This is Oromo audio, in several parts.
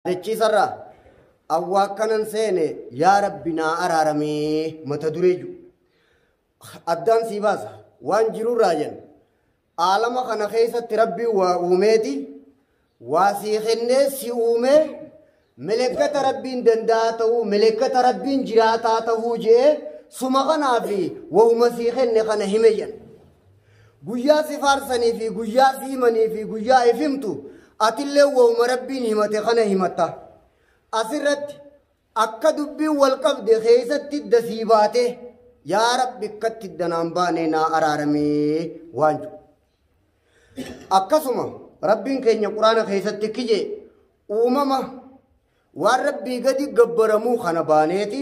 Jechiisarraa awwaakkanan seene yaa rabbi naa araaramee mata duree jiru. Addaan sii baasa waan jirurraa jenna. Aalama kana keessatti rabbi waa uumeeti waa sii kennee si uumee melekkata rabbiin danda'a ta'uu melekkata rabbiin jiraataa ta'uu je'ee suma kanaa fi wahuma sii kenne kana hime jenna. Guyyaa si faarsanii fi guyyaa si himanii fi guyyaa if himtu atillee wawuma Rabbiin himate kana himatta. Asirratti akka dubbiin wal qabde keessatti idda sii baate yaa Rabbi akkatti idda naan baane naa araaramee waan jedhu. Akkasuma Rabbiin keenya Quraana keessatti kije uumama waan Rabbii gadi gabbaramuu kana baaneeti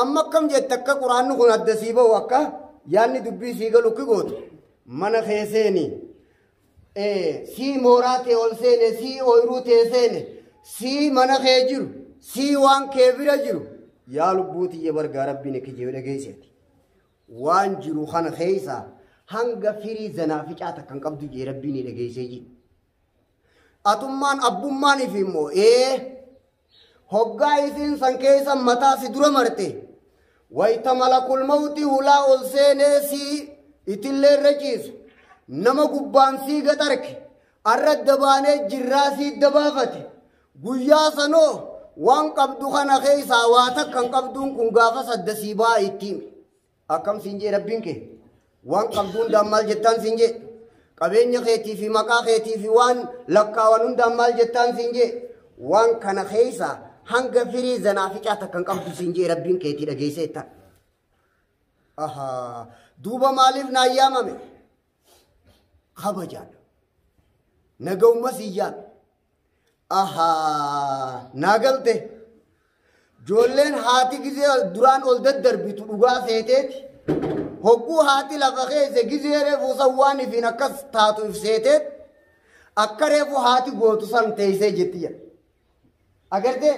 Amma akkam jette akka quraanni kun adda sii bahu akka yaanni dubbii sii galu ki gootu mana kee seeni sii mooraa tee ol seene sii ooyiruu tee seene sii mana kee jiru sii waan kee bira jiru yaa lubbuu tiyya bargaa rabbiin kijee dhageesseeti waan jiru kana keessaa hanga firii zanaa ficaa takka hin qabdu jee rabbiin dhageessee jiru atummaan abbummaan ifi immoo ee. Hoggaa isiin san keessa mataa si dura marte, wayta malakul mawti hulaa ol seenee sii itillee irra ciisu, nama gubbaan sii gaxarke, arra adda baanee jirraa sii adda baafate, guyyaa sanoo waan qabdu kana keessaa waa takka hin qabduun kun gaafas adda sii ba'a itti hime. Akkam siin jee rabbiin kee waan qabdu hundaan maal jettaan siin jee qabeenya keetii fi maqaa keetii fi waan lakkaawan hundaan maal jettaan siin jee waan kana keessa hanga firii zanaa ficaa takka hin qabdu siin jee rabbiin keetii dhageessee ittaan. Ahaa duuba maaliif naa yaamame kabajaan naga umma siyyaa. Ahaa naa galte. Joolleen haati gizee duraan ol daddarbitu dhugaa seeteeti. Hogguu haati lafa keessa gizee reefu san waan ifiin akkas taatu if seeteet akka reefu haati gootu san teessee jetti jedha. Agartee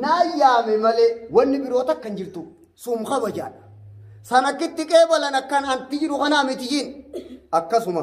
naa yaame malee wanni biroo takka hin jirtu suum kabajaadha. San akkitti qeebalan akkan anti jiru kanaa miti jiin akkasuma.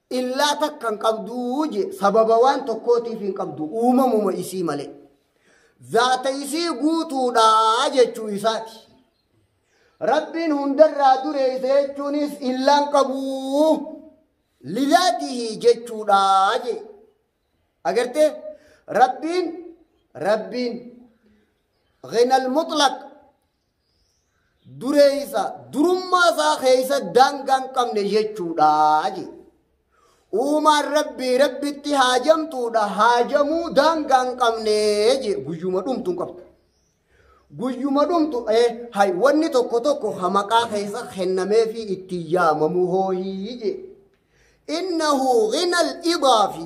Illaa takka hin qabduu je sababa waan tokkootiif hin qabdu uumamuma isii malee. Zaata isii guutuudhaa jechuu isaati. Rabbiin hundarraa dureeyse jechuunis illaan qabuu lizaatihi jechuudhaa je. Agartee Rabbiin Rabbiin ghinal mutlaq duree isaa durummaa isaa keessa daangaa hin qabne jechuudha jedhe. Uumaan rabbii rabbitti haajamtuudha haajamuu daangaa hin qabne jedhe guyyuma dhumtu hin qabdu. Guyyuma dhumtu eh, hay wanni tokko tokko ha maqaa keessa kennamee fi itti yaamamu hooyii jedhe. Innahu ghinal idaa fi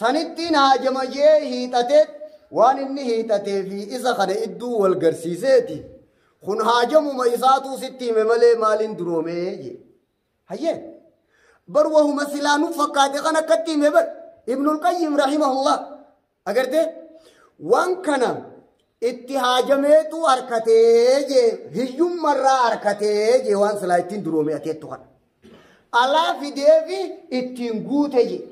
Sanittiin haajama je'ee hiixateet waan inni hiixatee fi isa kana idduu wal garsiiseeti. Kun haajamuma isaatuu sitti hime malee maaliin duroomee jee. Hayyee. Bar wahuma silaa nu fakkaate kan akkatti hime bar. Ibnul Qayyim rahimahullah. Agartee? Waan kana Itti haajameetu harkatee jee hiyyummarraa harkatee jee waan silaa ittiin duroome ateettu kana. Alaa fideefi ittiin guute jee.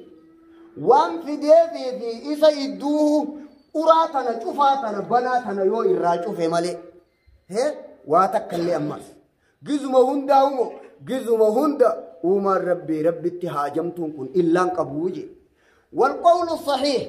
Waan fideefi fi isa idduu uraa tana cufaa tana banaa tana yoo irraa cufe malee. He waa takka illee ammas. Gizuma hundaa umo gizuma hunda uumaan rabbii rabbitti haajamtuun kun illaan qabuu jee. Wal qawlu sahiih.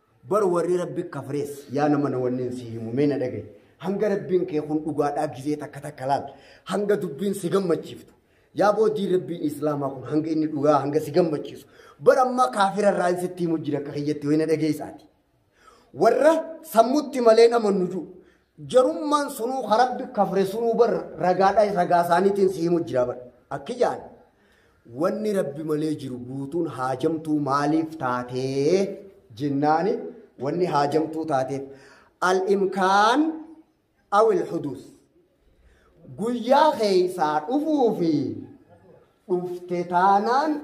Bar warri rabbi kafrees yaa nama na wannin si himu mee na dhagahi. Hanga rabbiin kee kun dhugaadhaa gizee takka takka laal. Hanga dubbiin si gammachiiftu. Yaa boodii rabbiin islaamaa kun hanga inni dhugaa hanga si gammachiisu. Bar ammaa kaafira irraa hin sitti himu jira akka kiyyatti ho'i na dhageessaati. Warra sammutti malee hin amannu jiru. Jarummaan sunuu ka rabbi kafre sunuu bar ragaadha ragaa isaaniitiin si himu jira bar. Akki jaan wanni rabbi malee jiru guutuun haajamtuu maaliif taatee jennaani wanni haajamtuu taateef al-imkaan awil huduus guyyaa keeysaa dhufuu fi dhufte taanaan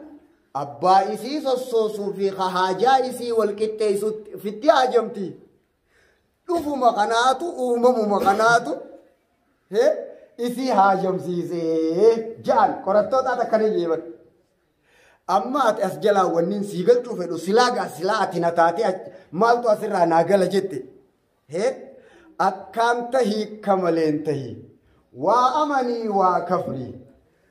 abbaa isii sossoosuu fi ka haajaa isii wal qixxeeysutti fitti haajamti. Dhufuma kanaatu uumamuma kanaatu hee, isii haajomsiisee ja'an qorattoota ati akkana jee bar. Amma ati as jalaa wanniin sii galchuu fedhu silaa gaa silaa ati na taatee ach- maaltu asirraa naa gala jette. Hee akkaan tahii kamaleen tahii waa amanii waa kafrii.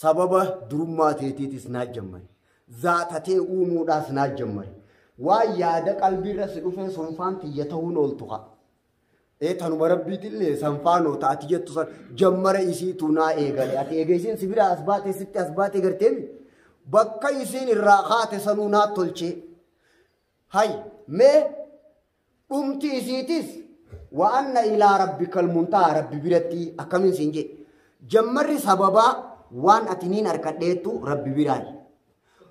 Sababa durummaa teetiitis naa jammari. Zaata tee uumuudhaas naa jammari. Waan yaada qalbiirra si dhufee sonfaan tiyya ta'uun ooltu haa. Ee tanuma rabbiitillee sanfaanoo ta ati jettu san jammara isiitu naa eegale. Ati eega isiin si biraa as baatee sitti as baatee garteemi. Bakka isiin irraa kaate sanuu naa tolchee. Hay mee Dhumti isiitis wa anna ilaa rabbikal muntahaa rabbi biratti akkamiin siin jedhe. Jammarri sababaa waan ati niin arkadheettu rabbi biraayi.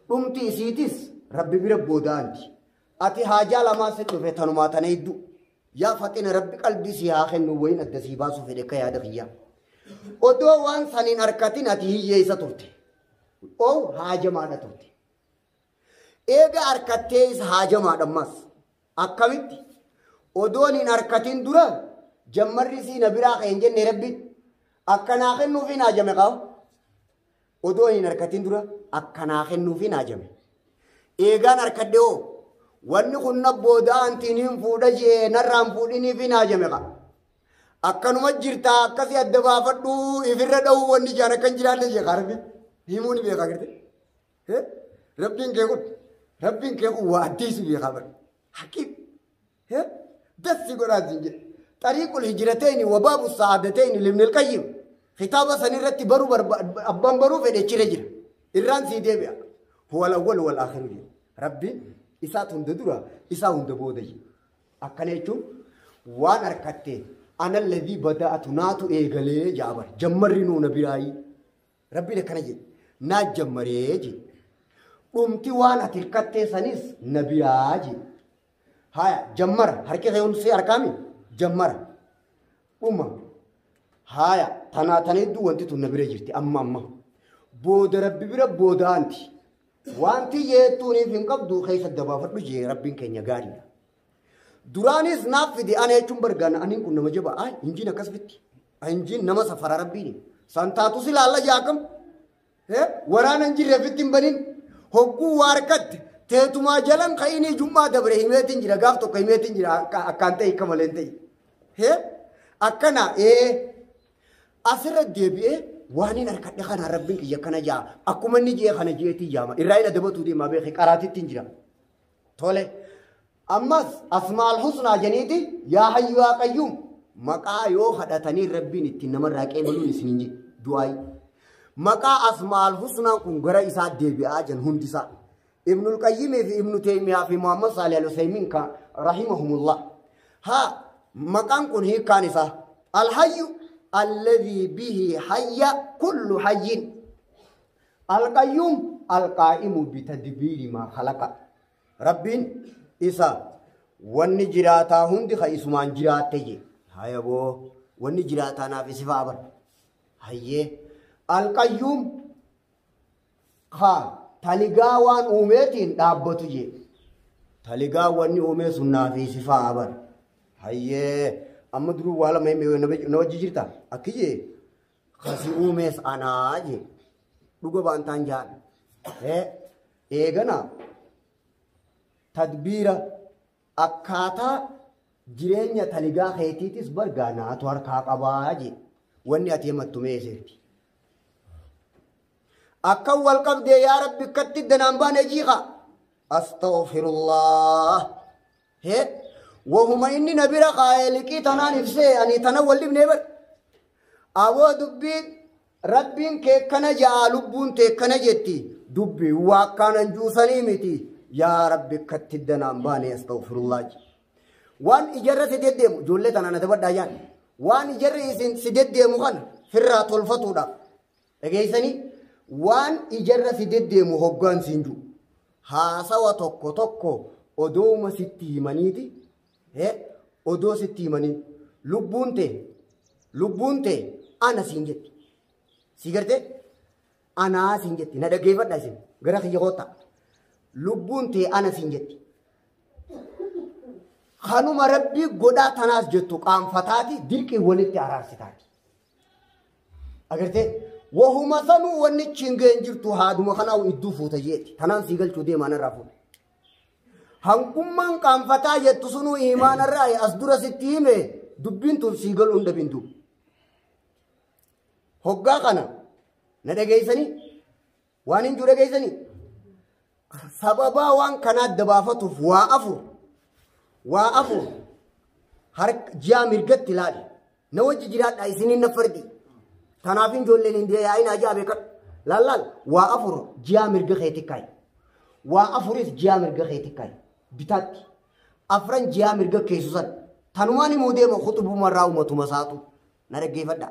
Dhumti isiitis rabbi bira boodaanti. Ati haajaa lamaa si dhufe tanumaa tana hedduu. Yaa faxina rabbi qalbii si haa kennu wayin adda sii baasuu fedhe akka yaada kiyyaa. Odoo waan saniin arkatin ati hiyyeessa turte. Oo haajamaadha turte. Eega arkattee isa haajamaadha ammas. Akkamitti? Odoon hin arkatin dura jammarri isii na biraa ka'e hin jenne rabbiin. Akka naa kennuuf hin haajame qaba. Odoo hin arkatin dura akka naa kennuuf hin haajame. Eegaan arkadhe hoo wanni kun na booda antiin hin fuudha jee narraan fuudhiniif hin haajame qaba. Akkanuma jirtaa akkasii adda baafadhuu ifirra dhahuu wanni jaan akkan jiraanne jee kaarbi himuu ni beekaa garte. He? Rabbiin kee kun Rabbiin kee kun waa addee si beekaa bara. Haqiiq. He? Dassi godhaa siin jedhe. Xariiqul hijirateeni wabaabu sa'aadateeni libnil qayyim. Kitaaba san irratti baruu barbaad abbaan baruu fedhe chire jira. Irraan sii deebi'a. Huwal awwal wal akhiru jedhe. Rabbiin isaatu hunda dura isaa hunda booda jedhe. Akkana jechuun waan harkattee analladii bada'atu naatu eegalee jaabara. Jammarri nuu na biraayii. Rabbiin akkana jedhe naa jammaree jedhe dhumti waan ati hirkattee sanis na biraa jedhe haya jammara harki kee hundi si harkaami jammara dhuma haya tanaa tana hedduu wanti tun na bira jirti amma amma booda rabbi bira booda anti wanti jeettuuniif hin qabdu keessa dabaafadhu jee rabbiin keenya gaariidha Duraanis naaf fide ana jechuun bargaana aniin kun nama jaba ay injiin akkas fitti ay injiin nama safara rabbiin san taatu si laalla jaakam waraana hin jirre fitti hin banin hogguu waa harkatte teetumaa jalan ka inni jummaa dabre himeetiin jira gaaf tokko himeetiin jira akkaan ta'e akka malee ta'e hee akkana ee asirra deebi'ee waan hin harkadhe kana rabbiin kiyya kana jaa akkuma inni jee kana jeetii jaama irraa hin adabatuu deemaa beekee qaraatitti hin jira. Tole. Ammas asmaal husnaa janiiti yaa hayyu yaa qayyuum maqaa yoo kadhatanii rabbiin ittiin namarraa qeebaluun isin hin jedhu du'aayi. Maqaa asmaal husnaan kun gara isaa deebi'aa jan hundisaa. Ibnul Qayyimii fi Ibnu Teemiyaa fi Muhammad Saalih Al-Usaymiin kan rahimahumullah. Haa maqaan kun hiikkaan isaa alhayyu alladhii bihi hayya kullu hayyin. Al-Qayyuum Al-Qaa'imu bitadbiiri maa khalaqa. Rabbiin isa wanni jiraataa hundi ka isumaan jiraatte jee. Haya boo wanni jiraataa naaf isifaa bar. Hayyee. Al-Qayyuum ka taligaa waan uumeetiin dhaabbatu jee. Taligaa wanni uumee sun naaf isifaa bar. Hayyee. Amma duruu waa lama himee na wajji jirta. Akki jee. Kan si uumees anaa jee. Dhuga baantaan jaan. Eh, Eegana tadbiira akkaataa jireenya taligaa keetiitis bargaa naatu harkaa qabaa jee. Wanni ati himattu mee eseerti. Akkan wal qabdee yaa rabbi akkatti danaan baane jiiqa. Astaghfirullah. Hee wahuma inni na bira kaa'ee liqii tanaan ibsee ani tana wal dhibnee bar. Aboo dubbiin rabbiin kee kana ja'a lubbuun tee kana jetti dubbi waa akkaanan juusanii miti yaa rabbi akkatti danaan baanee astagfirullah jedhe. Waan ijarra si deddeemu ijoollee tanaan adabadhaa jaan waan ijarri isin si deddeemu kana firraa tolfatuudhaaf Dhageessanii? Waan ijarra si deddeemu hoggaan siin jiru. Haasawa tokko tokko odooma sitti himaniiti. Eh, odoo sitti himanii. Lubbuun tee, lubbuun tee ana siin jetti. Si gartee? Anaa siin jetti. Na dhaggeeffadha isin. Gara kiyya koottaa. Lubbuun tee ana siin jetti. Kanuma rabbii godhaa tanaas jettu qaanfataati dirqii walitti araarsitaan. Agartee wahuma sanuu wanni chiin ga'een jirtu haaduma kanaa idduu fuuta jeetti. Kanaan sii galchuu deemaan irraa fuudha. Hangummaan qaanfataa jettu sunuu imaan irraa as dura sitti hime dubbiin tun sii galuu hin dhabin duuba. Hoggaa kana na dhageessanii Waan hin jiru dhageessanii? Sababaa waan kanaa adda baafatuuf waa afur. Waa afur. Harka ji'a mirgatti ilaali. Na wajji jiraadha isiniin na fardi. Tanaaf hin ijoolleen hin deeyaa hin ajaa beekan. Laallaal waa afur ji'a mirga keetti kaayi. Waa afuris ji'a mirga keetti kaayi. Bitaatti. Afran ji'a mirga keessu san. Tanumaan immoo deema kutubumarraa uumatuma isaatu. Na dhaggeeffadha.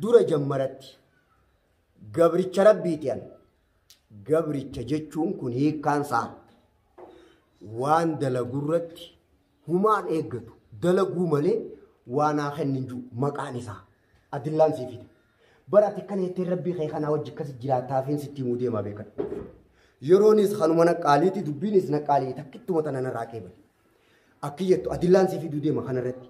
Dura jammaratti. Gabricha Rabbiiti an. Gabricha jechuun kun hiikkaan isaa waan dalagurratti humaan eeggatu dalaguu malee waan haa kennin jiru maqaan isaa adillaan sii fida. Bara ati kana jettee rabbii kee kanaa wajji akkasi jiraataa fi sitti himuu deemaa beekan. Yeroonis kanuma naqqaaliiti dubbiinis naqqaalii takkittuma tana narraa qeebale. Akki jettu adillaan sii fiduu deema kanarratti.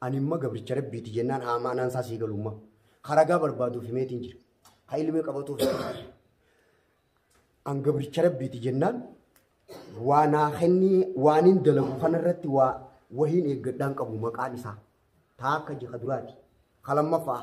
Ani imma gabricha rabbiiti jennaan haa maanaan isaa sii galu imma. Ka ragaa barbaaduuf himeetiin jira. Ka ilmee qabatuuf himeetiin. An gabricha rabbiiti jennaan waa naa kennii waanin dalagu kanarratti waa wahiin eeggadhaan qabu maqaan isaa. Taa akka jika duraati. Ka lammaffaa.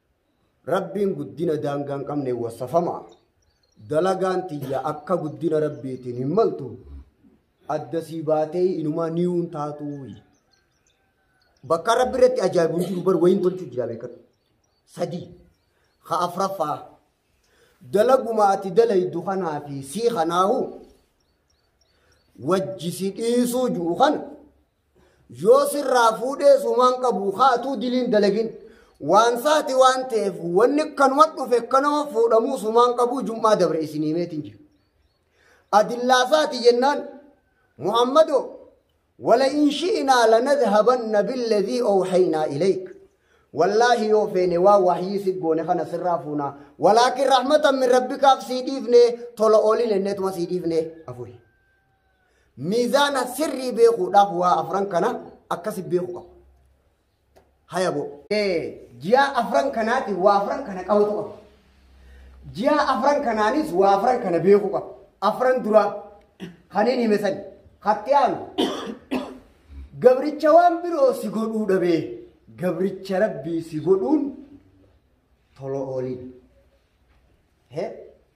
Rabbiin guddina daangaa hin qabneen wassafama. Dalagaan tiyya akka guddina Rabbiitiin hin maltu. Adda sii baatee inumaa niyuun taatuuyi. Bakka Rabbi irratti ajaa'ibu hin jiru bar wayiin tolchuu jira beekadhu. Sadii. Ka afraffaa. Dalaguma ati dalaydu kanaa fi sii kanaahu wajji si dhiisuu jiru kana yoo sirraa fuudhees humaan qabu haatuu diliin dalagin waan saati waan ta'eef wanni kanuma dhufe kanuma fuudhamuu sumaan qabu jum'aa dabre isin himeetiin jira. Adillaa saati jennaan Muhammadoo wala in shi'inaa lanadhabanna billadhii awhaynaa ilayk. Wallaahi yoo feene waa wahyii si goone kana sirraa fuunaa. Walaakin rahmatan min rabbikaaf sii dhiifne tola oolin enneetuma sii dhiifne afuri. Miizaana sirrii beekuudhaaf waa afran kana akkasi beeku qabu. Haya boo. Ji'a afran kanaati waa afran kana qabatu qabu. Ji'a afran kanaanis waa afran kana beeku qabu. Afran duraa kaniin hime sani. Hatti aanu. Gabricha waan biroo si godhuu dhabee. Gabricha rabbii si godhuun tolo oolii. Hee?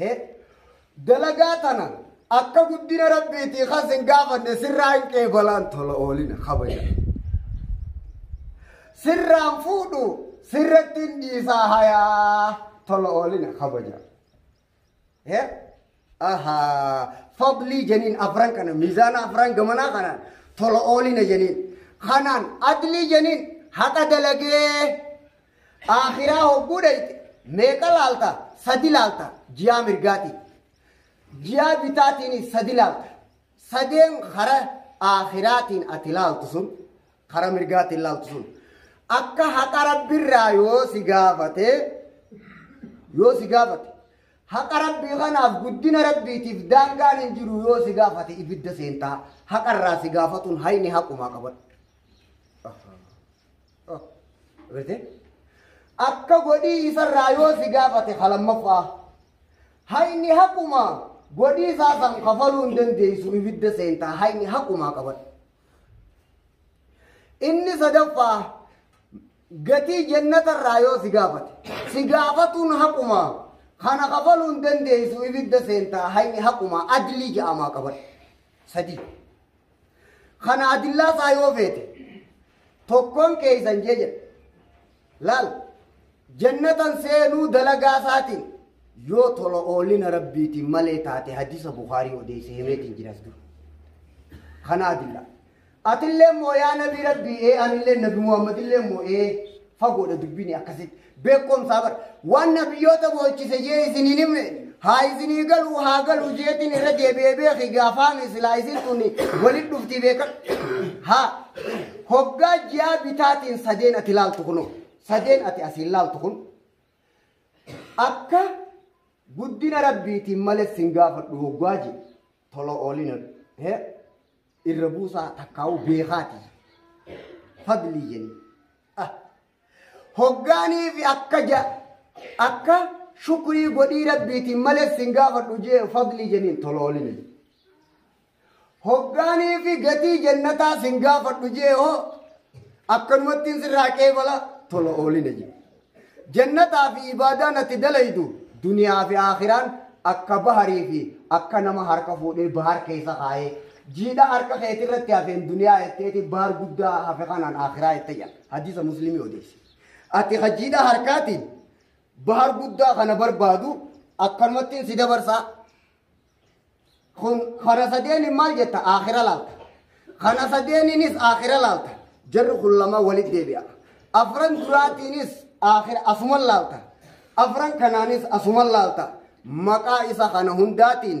He? Dalagaa tana akka guddina rabbiitii kan sin gaafanne sirraa hin qeebalaan tola oolina kabaja. Sirraan fuudhu sirratti hin dhiisaa hayaa tola oolina kabaja. He? Ahaa. Fadlii jeniin afran kana miizaana afran gamanaa kanaan tola oolina jeniin. Kanaan adlii jeniin haqa dalagee Aakhiraa hogguu dhayxe meeqa laalta? Sadi laalta ji'aa mirgaatiin. Ji'aa bitaatiinis sadi laalta. Sadeen kara aakhiraatiin ati laaltu sun kara mirgaatiin laaltu sun akka haqa rabbirraa yoo si gaafate yoo si gaafate haqa rabbii kanaaf guddina rabbiitiif daangaan hin jiru yoo si gaafate ibidda seentaa haqarraa si gaafatuun hayni haqumaa qabadha. Akka godhii isarraa yoo si gaafate halammaffaa hayni haqumaa godhii isaa san kafaluu hin dandeessu ibidda seentaa hayni haqumaa qabadha. Inni sadaffaa gatii jennatarraa yoo si gaafate si gaafatuun haqumaa kana kafaluu hin dandeessu ibidda seentaa hayni haqumaa adilii ja'amaa qabadha. Sadii. Kana adillaa isaa yoo feete tokkoon keeysan jee jedhe. Laal jannatan seenuu dalagaa isaatiin yoo tola oolina rabbiitiin malee taate hadiisa Bukaarii odeesse himeetiin jiras dura. Kana adillaa. Atillee immoo yaa nabi rabbii ee anillee nabi Muhammadillee immoo ee fagoodha dubbini akkasitti. beekomsaa bar waan nabiyyoota boochise jee isinii nimne haa isinii galuu haa galuu jeetiin irra deebi'ee beeki gaafaami silaa isin tuni walit dhuftii beekan haa hoggaa ji'aa bitaatiin sadeen ati laaltu kunu sadeen ati asiin laaltu kun akka guddina rabbiitiin males sin gaafadhu hoggaa je tola oolina he irra buusaa takkaa'u beekaati fadlii jenii ah Hoggaaniifi akka ja akka shukrii godhii rabbiitiin malee sin gaafadhu jee fadlii jeniin toloolini. Hoggaaniifi gatii jannataa sin gaafadhu jee hoo akkanumattiin sirraa qeebala tola oolina jee. Jannataa fi ibaadaa natti dalaydu duniyaa fi aakhiraan akka baharii fi akka nama harka fuudhee bahar keessa kaayee jiidha harka keetirratti hafeen duniyaa jetteeti bahar guddaa hafe kanaan aakhiraa jette jedha. Hadiisa Muslimii odeesse. Ati hajiidhaa harkaatiin bahar guddaa kana barbaadu akkanumattiin si dabarsaa. Kun kana sadeeniin maal jetta aakhira laalta. Kana sadeeniinis aakhira laalta. Jarri kun lama walitti deebi'a. Afran duraatiinis aakhira asuma laalta. Afran kanaanis asuma laalta. Maqaa isa kana hundaatiin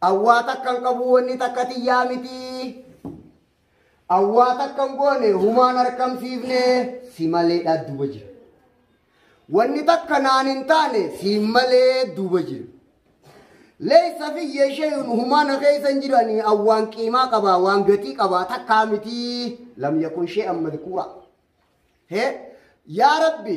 Awwaa takkan qabu wanni takka tiyyaa miti. Awwaa takkan goone humaan harkamsiifne si malee dhaadduuba jira. Wanni takka naan hin taane si malee duuba jira. Leessa fi yeeshayuun humaana keessa hin jiranii awwaan qiimaa qabaa waan gatii qabaa takkaa miti lam yakun shee amma dhikuura. Hee yaa rabbi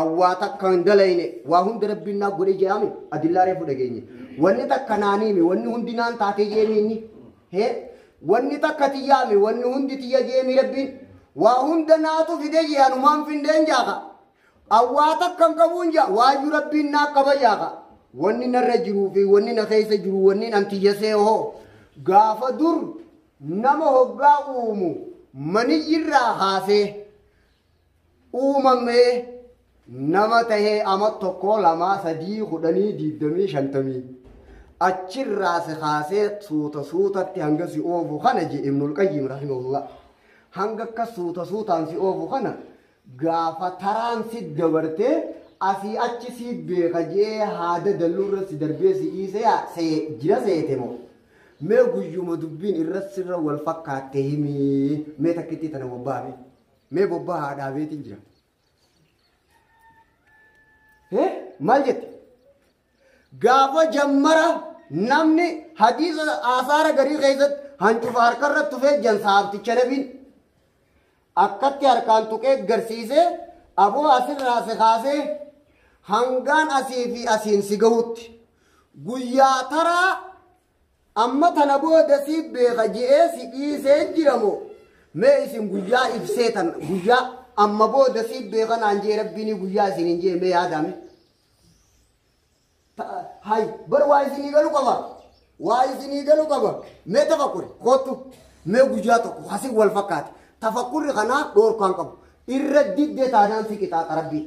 Awwaa takka hin dalayne waa hunda rabbiin naa godhe je'ame adillaa reefu dhageenye. Wanni takka naa niime wanni hundi naan taatee je'emi inni. Hee wanni takka tiyyaame wanni hundi tiyya je'emi rabbiin. Waa hunda naatu fide jee anumaan findeen jaaka. Awwaa takka hin qabuun jaa waayyu rabbiin naa qaba jaaka. Wanni narra jiruu fi wanni na keessa jiru wanni nan tiyya seehoo. Gaafa dur nama hoggaa uumu maniyyirraa kaasee. uumamee nama tahee ama tokkoo lamaa sadii kudhanii diigdamii shantamii achirraa si kaasee suuta suutatti hanga si oofu kana je ibnul qayyim rahimahullah hanga akka suuta suutaan si oofu kana gaafa taraan si dabartee asii achi si beeka jee haada dalluurra si darbee si dhiisee haa see jira seete moo mee guyyuma dubbiin irra sirra wal fakkaatte himii mee takkitti tana wabbaame. Mee bobbaa haa dhaabeetiin jira. Eh, Maal jette? Gaafa jammara namni hadiisa aasaara garii keessatti hancufa harkarra tufee jansa haafticha nabiin akkatti harkaan tuqee garsiisee aboo asirraa si kaasee hangaan asii fi asiin si gahutti guyyaa taraa Amma tana booda si beeka je'ee si dhiisee jira moo? Mee isin guyyaa ibsee tan guyyaa amma booda si beeka naan je'e rabbiin guyyaa isin hin je'e mee yaadame. Hay bar waa isinii galu qaba. Waa isinii galu qaba. Mee tafakkuri kootu mee guyyaa tokko hasi wal fakkaate tafakkurri kanaa dhoorkaan qabu irra diddee taanaan si qixaaxa rabbiin.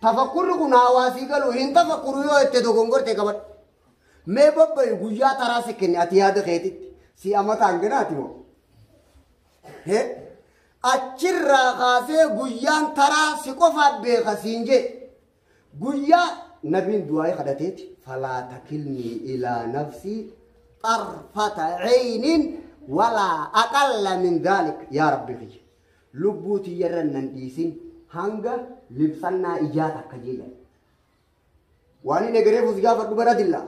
Tafakkurri kun hawaasii galu hin tafakkuru yoo itti dogongorte qabadhu. Mee babba'i guyyaa taraa si kenne ati yaada keetitti si amata hanganaati moo? Hee? Achirraa kaasee guyyaan taraa si qofaaf beeka siin jee. Guyyaa nabiin du'aa'ee kadhateeti falaa takilnii ilaa nafsii xarfata ceyniin walaa aqalla min daalik yaa rabbi kiyya. Lubbuu tiyyarra nan dhiisin hanga libsannaa ijaa takka jee jedhe. Waan inni egereef us gaafadhu bara dilla.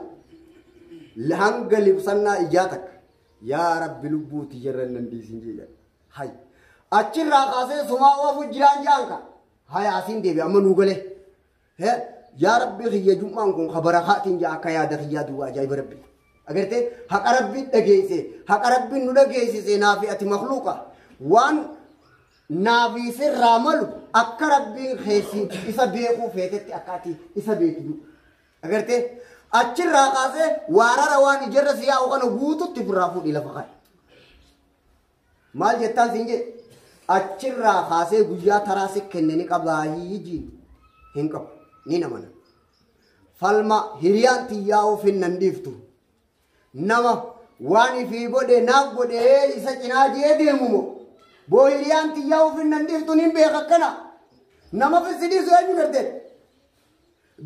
Hanga libsannaa ijaa takka. Yaa rabbi lubbuu tiyyarra hin dandeessin jedha. Hay. Achirraa kaasee sumaa oofu jiraan jaan ka. Hay asiin deebi amma nuu galee. He yaa rabbi kiyya jum'aan kun ka barakaatiin jaa akka yaada kiyyaa duwwaa ajaa'iba rabbi. Agartee haqa rabbi dhageesse haqa rabbi nu dhageessise naafi ati makluuqa waan Naafi sirraa malu akka rabbiin keessi isa beekuu feetetti akka ati isa beektu. Agartee achirraa kaasee waarara waan ijarra si yaa'u kana guututti ofirraa fuudhi lafa kana. Maal jettaan siin jedhe achirraa kaasee guyyaa taraa si kenne ni qabaa hiijiin hin qabu ni namana. Falma hiriyaan tiyyaa ofiin nan dhiiftu Nama waan ifii godhe naaf godhee isa cinaa jee deemu moo boo hiriyaan tiyyaa ofin nan dhiiftu nin beeka akkana nama fissi dhiisu eenyu gartee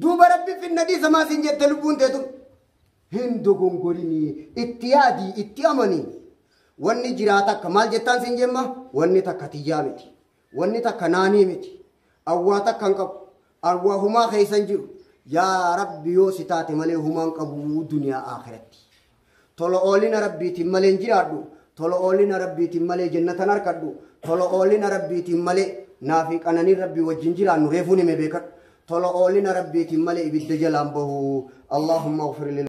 duuba rabbi finna dhiisa maa siin jette lubbuun teetu hin dogongorinii itti yaadii itti amanii wanni jiraata akka maal jettaan siin jemma wanni takka tiyyaa miti Wanni takka naanii miti. An waa takka hin qabu. An waa humaa keessa hin jiru. Yaa Rabbi yoo si taate malee humaa hin qabu duniyaa aakhiratti. Tola oolina Rabbiitiin malee hin jiraadhu. Tola oolina Rabbiitiin malee jannatan harkadhu. Tola oolina Rabbiitiin malee naa fi qananiin Rabbii wajjin jiraannu reefuu nime beekadhu. Tola oolina Rabbiitiin malee ibidda jalaan bahu. Allahumma ufir lil